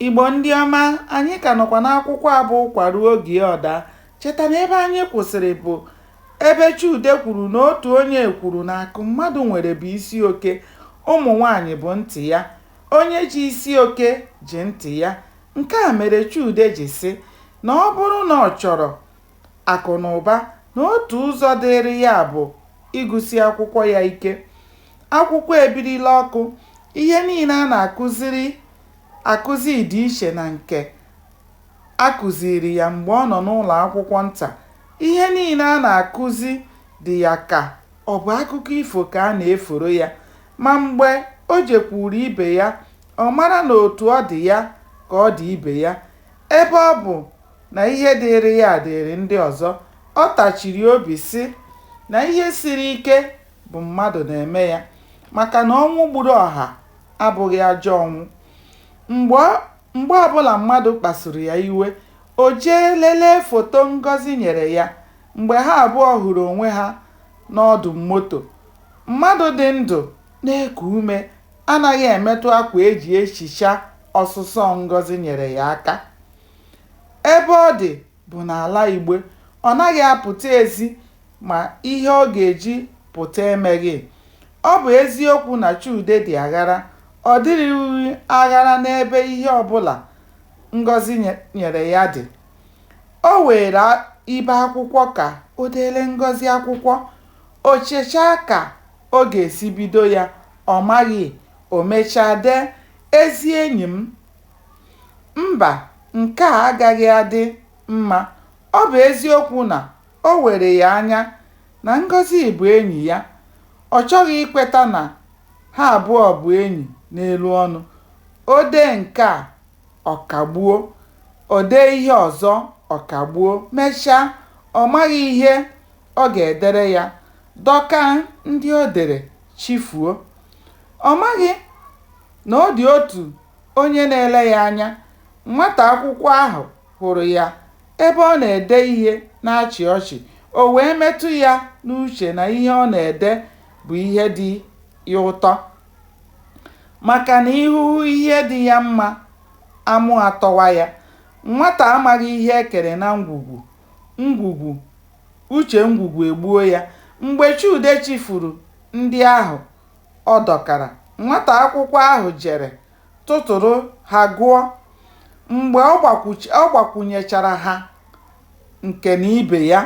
Igbo ndị ọma, anyị ka nọkwa n'akwụkwọ a bụ Ụkwa ruo oge ọ daa. Cheta na ebe anyị kwụsịrị bụ ebe Chude kwuru na otu onye kwuru na akụ mmadụ nwere bụ isi oke, ụmụ nwaanyị bụ ntị ya. Onye ji isi oke ji ntị ya. Nke a mere Chude ji sị na ọ bụrụ na ọ chọrọ akụ na ụba na otu ụzọ dịịrị ya bụ ịgụsi akwụkwọ ya ike. Akwụkwọ ebirila ọkụ, ihe niile a na-akụzi dị iche na nke a kụziiri ya mgbe ọ nọ n'ụlọ akwụkwọ nta, ihe niile a na-akụzi dị ya ka ọ bụ akụkọ ifo ka a na-eforo ya. Ma mgbe o jekwuru ibe ya, ọ mara na otu ọ dị ya ka ọ dị ibe ya, ebe ọ bụ na ihe dịịrị ya dịịrị ndị ọzọ, ọ tachiri obi sị na ihe siri ike bụ mmadụ na-eme ya maka na ọnwụ gburu ọha abụghị ajọ ọnwụ. Mgbe ọbụla mmadụ kpasuru ya iwe, o jee lelee foto Ngozi nyere ya mgbe ha abụọ hụrụ onwe ha n'ọdụ moto. Mmadụ dị ndụ na-eku ume anaghị emetụ akwa e ji ehicha ọsụsọ Ngozi nyere ya aka. Ebe ọ dị bụ n'ala igbe, ọ naghị apụta ezi ma ihe ọ ga-eji pụta emeghị. Ọ bụ eziokwu na Chude dị aghara, ọ dịrịghị aghara n'ebe ihe ọbụla Ngozi nyere ya dị. O weere ibe akwụkwọ ka o deere Ngozi akwụkwọ. O chechaa ka ọ ga-esi bido ya, ọ maghị, o mechaa dee, Ezi enyi m, Mba, nke a agaghị adị mma. Ọ bụ eziokwu na o were ya anya na Ngozi bụ enyi ya, ọ chọghị ikweta na ha abụọ bụ enyi n'elu ọnụ. O dee nke a, ọ kagbuo. O dee ihe ọzọ, ọ kagbuo. Mechaa, ọ maghị ihe ọ ga-edere ya, dọkaa ndị o dere, chifuo. Ọ maghị. na ọ dị otu onye na-ele ya anya, nwata akwụkwọ ahụ hụrụ ya ebe ọ na-ede ihe na-achị ọchị, o wee metụ ya n'uche na ihe ọ na-ede bụ ihe dị ya ụtọ. Maka na ihu hụ ihe dị ya mma, amụ atọwa ya. Nwata amaghị ihe e kere na ngwugwu, ngwugwu, uche ngwugwu egbuo ya. Mgbe Chude chifuru ndị ahụ Ọ dọkara. Nwata akwụkwọ ahụ jere tụtụrụ ha gụọ. Mgbe ọ gbakwunyechara ha nke na ibe ya,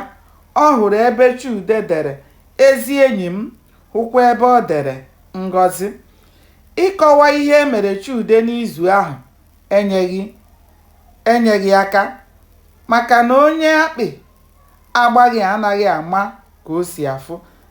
ọ hụrụ ebe Chude dere Ezi enyi m, hụkwa ebe o dere Ngọzi. Ịkọwa ihe mere Chude n'izu ahụ enyeghị aka maka na onye akpị agbaghị anaghị ama ka o si afụ.